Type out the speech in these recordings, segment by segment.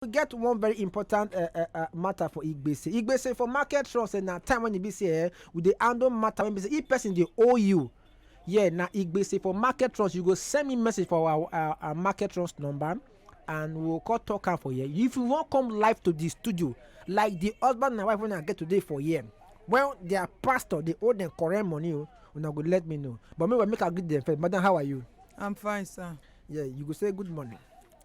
we get one very important uh, uh, uh, matter for igbese igbese for market trust eh, na time when e be say eh, we dey handle matter when be say if person dey owe you yeah na igbese for market trust you go send me message for our our, our market trust number and we go come talk am for here if you wan come live to the studio like the husband and wife wey una get today for here when their pastor dey owe them correct money o una go let me know but meanwhile make i greet them first madam how are you I'm fine, sir. yeah you go say good morning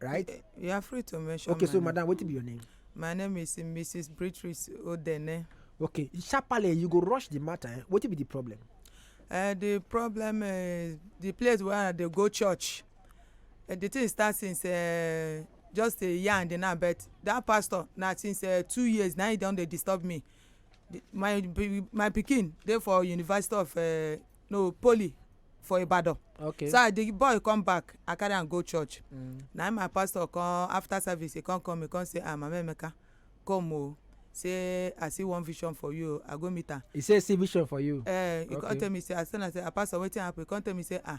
right? You are free to mention. Okay, so madam, what be your name? My name is Mrs. Beatrice Odene. Okay, sharply you go rush the matter. Eh? What be the problem? Uh, the problem is uh, the place where they go church. Uh, the thing start since uh, just a year and now, but that pastor now since uh, two years now he don dey disturb me. The, my my pikin dey for University of uh, no poly for ibadan okay so as the boy come back i carry am go church mm. na im my pastor come after service he come come he come say ah mama emeka come o say i see one vision for you i go meet am he say see vision for you eh he come tell me say i tell am say ah pastor wetin happen he come tell me say ah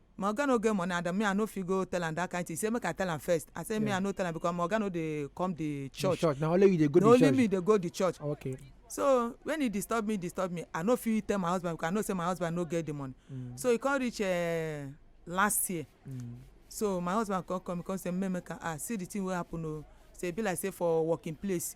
my oga no get money and me i no fit go tell am that kind thing he say make i tell am first i say me i no tell am because my oga no dey come the church church na only you dey go the church na only me dey go the church okay so when he disturb me disturb me i no fit tell my husband because i know say my husband no get the money mm. so he come reach uh, last year mm. so my husband come come come say make make i ah see the thing wey happen o oh. say e be like say for working place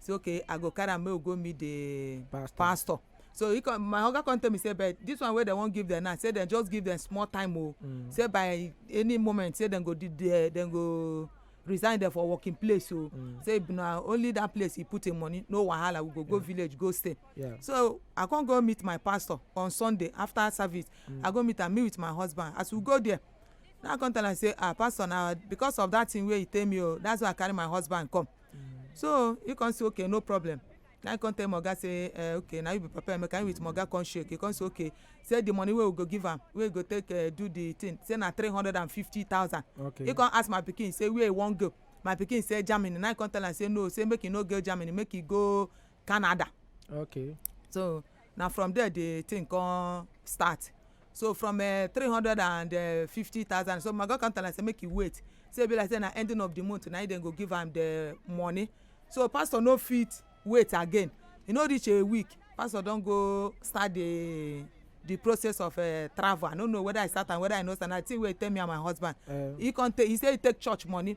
say okay i go carry am make we go meet the pastor, pastor. so he come my oga come tell me say but this one wey dem wan give dem now say dem just give dem small time o oh. mm. say by any moment say dem go di there dem go resign there for working place o oh. mm. say na only that place he put him money no wahala we go go yeah. village go stay yeah. so i come go meet my pastor on sunday after service mm. i go meet am me with my husband as we go there now i come tell am say ah pastor na because of that thing wey he tell me o oh, that's why i carry my husband come so he come say okay no problem na him come tell my oga say uh, okay na you be papa emeka him with my oga come shake he come say okay say the money wey we go give am wey go take uh, do the thing say na three hundred and fifty thousand okay. he come ask my pikin say where he wan go my pikin say germany na him come tell am say no say make he no go germany make he go canada okay so na from there the thing come start so from eh, three hundred and eh, fifty thousand so my god come tell am say make you wait say e be like say na ending of the month na him dem go give am the money so pastor no fit wait again e no reach a week pastor don go start the the process of uh, travel i no know whether i start am whether i no start na the thing wey he tell me and my husband uh, he come take he say he take church money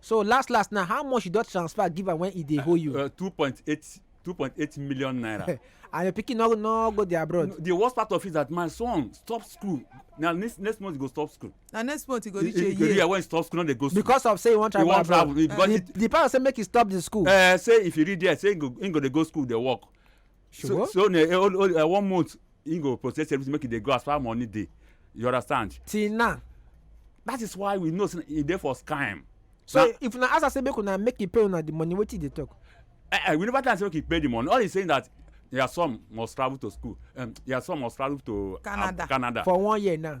So last last now, how much you don transfer give am when e dey hold you? Uh, two point eight two point eight million naira. and your pikin no no go there abroad. the worst part of it is that my son stop school na next next month he go stop school. na next month he go reach a year. he go reach when he stop school no dey go school. because of say he wan travel abroad he wan travel because uh, he, the parents say make he stop the school. Uh, say if he reach there say he go he go dey go school dey work so so na eh, only eh, one month he go process everything make e dey go as far money dey you understand. till now. that is why we know say e dey for scam. so now, if una ask am say make una make e pay una the money wetin e dey talk. Eh, eh, we never tell am say make e pay the money all he saying that their son must travel to school um, their son must travel to um, canada, um, canada. for one year now.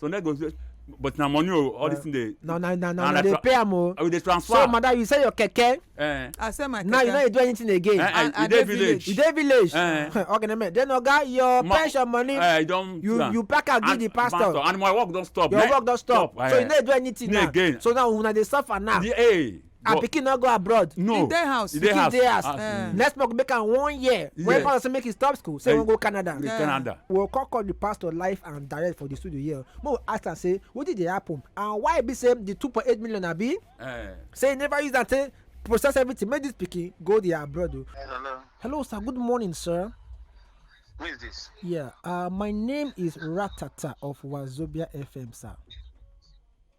so dem go but na money o all this thing dey. na na na na na dey pay am o. we dey transfer. so madam you sell your keke. Eh. i sell my keke. now you no dey do anything again. Eh, eh, you dey village. you dey village. Eh. okay na me then oga your Ma, pension money. Eh, you don. you plan. you pack am give the pastor. pastor and my work don stop. your work don stop. stop. so you no dey do anything now. again. so now una dey suffer now. Yeah, hey. her pikin no go abroad no e dey house e dey house dey house eh. next month make am one year when pastor say make he stop school say he wan go canada eh. canada we go come call the pastor live and direct for the studio here make we ask am say wetin dey happen and why e be say the two point eight million abi eh. say he never use am take process everything make this pikin go there abroad o. Oh. hello. hello sir good morning sir. who is this. yeah uh, my name is ratata of wazobia fm sir.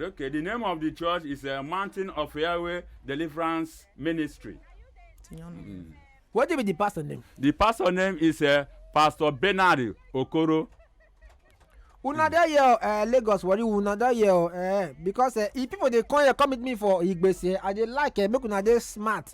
Okay, the name of the church is uh, Mountain of Yahweh Deliverance Ministry. Mm. What do you mean the pastor name? The pastor name is uh, Pastor Bernard Okoro. Una dey here uh, Lagos worry una dey here uh, because uh, if people dey come here come meet me for Igbese I dey like uh, make una dey smart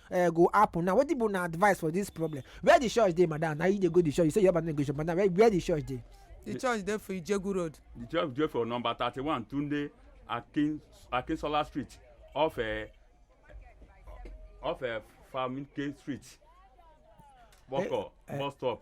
uh, go happen now wetin be una advice for this problem where the church dey madam na you dey go the church you say your man no go church madam where, where the church dey. the church dey for ijegu road. the church dey for number thirty-one tunde akin akinsola street off uh, off uh, famike street boko eh, eh, bus stop.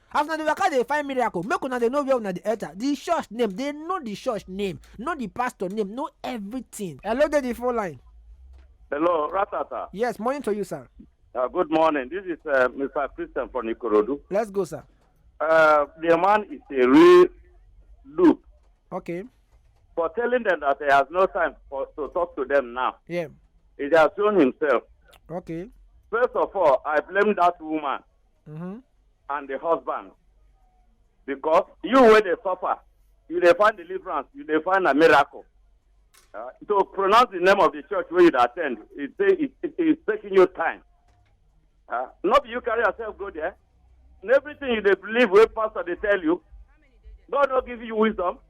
as una dey waka dey find miracle make una dey know where una dey enter the church name dey know the church name know the pastor name know everything hello dey the phone line Hello, Ratata. yes morning to you sir Uh, good morning. This is uh, Mr. Christian from Ikorodu. let's go sir Uh, the man is a real loop okay for telling them that he has no time for, to talk to them now. yeah He has shown himself. okay First of all, I blame that woman. Mhm. and the husband because you wey dey suffer you dey find deliverance you dey find a miracle uh, to pronounce the name of the church wey you dey attend e say it it is taking you time uh, no be you carry yourself go there na everything you dey believe wey pastor dey tell you god no give you wisdom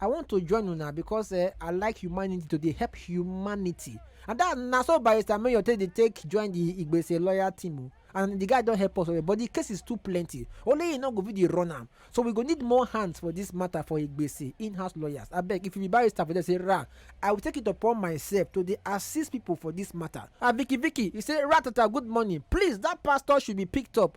I want to join una because uh, I like humanity to dey help humanity. And that na so Barrister Mayor take dey take join the Igbese lawyer team o. And the guy don help us well, but the case is too plenty. Only he no go fit dey run am. So we go need more hands for this matter for Igbese in-house lawyers. Abeg, if you be barrister for there, say ra, I will take it upon myself to dey assist people for this matter. Ah, Vicky Vicky, he say Ratata, good morning. Please, that pastor should be picked up.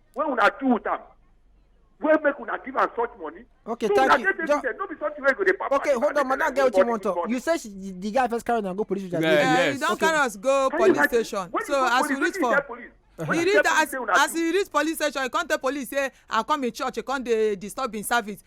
wey una do with am wey make una give am such money. okay so thank you just no be something wey go dey papa. okay hold on madam get wetin you wan talk you say she, the guy first carry una go police station. Yeah, yeah, yes. you don okay. carry us go police station so as we reach for. Uh-huh. he reach as as he reach police station he come tell police say i come in church he come dey disturb him service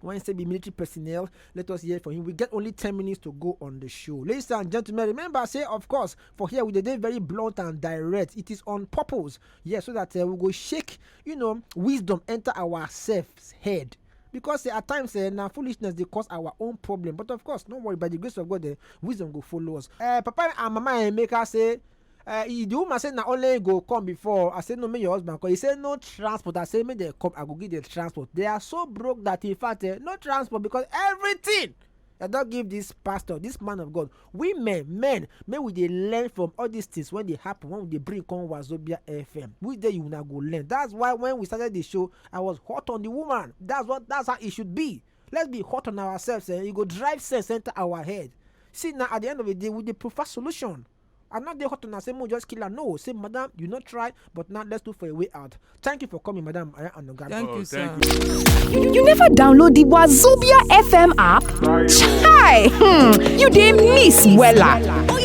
when say be military personnel let us hear from him we get only 10 minutes to go on the show ladies and gentlemen remember say of course for here we dey dey very blunt and direct it is on purpose yes so that uh, we go shake you know wisdom enter ourselves head because uh, at times uh, na foolishness dey cause our own problem but of course no worry by the grace of god uh, wisdom go follow us uh, papa and mama emeka say uh, the woman say na only go come before i say no make your husband come he say no transport i say make dem come i go give them transport they are so broke that in fact uh, no transport because everything i don give this pastor this man of god women men make we dey learn from all these things when they happen when we dey bring come wazobia fm which day you una go learn that's why when we started the show i was hot on the woman that's what that's how it should be let's be hot on ourselves eh? e go drive sense enter our head see now at the end of the day we dey prefer solution I not dey hot una say mo just kill her. No, say madam, you not try, but now let's look for a way out. Thank you for coming, madam. I am Anoga. Thank Oh, you, sir. thank you. You never download the Wazobia FM app? Chai! Hmm, you dey miss wella.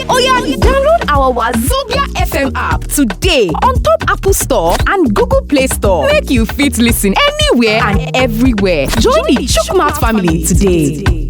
Oya, download our Wazobia FM app today on top Apple Store and Google Play Store. Make you fit listen anywhere and everywhere. Join the Chukmat family today.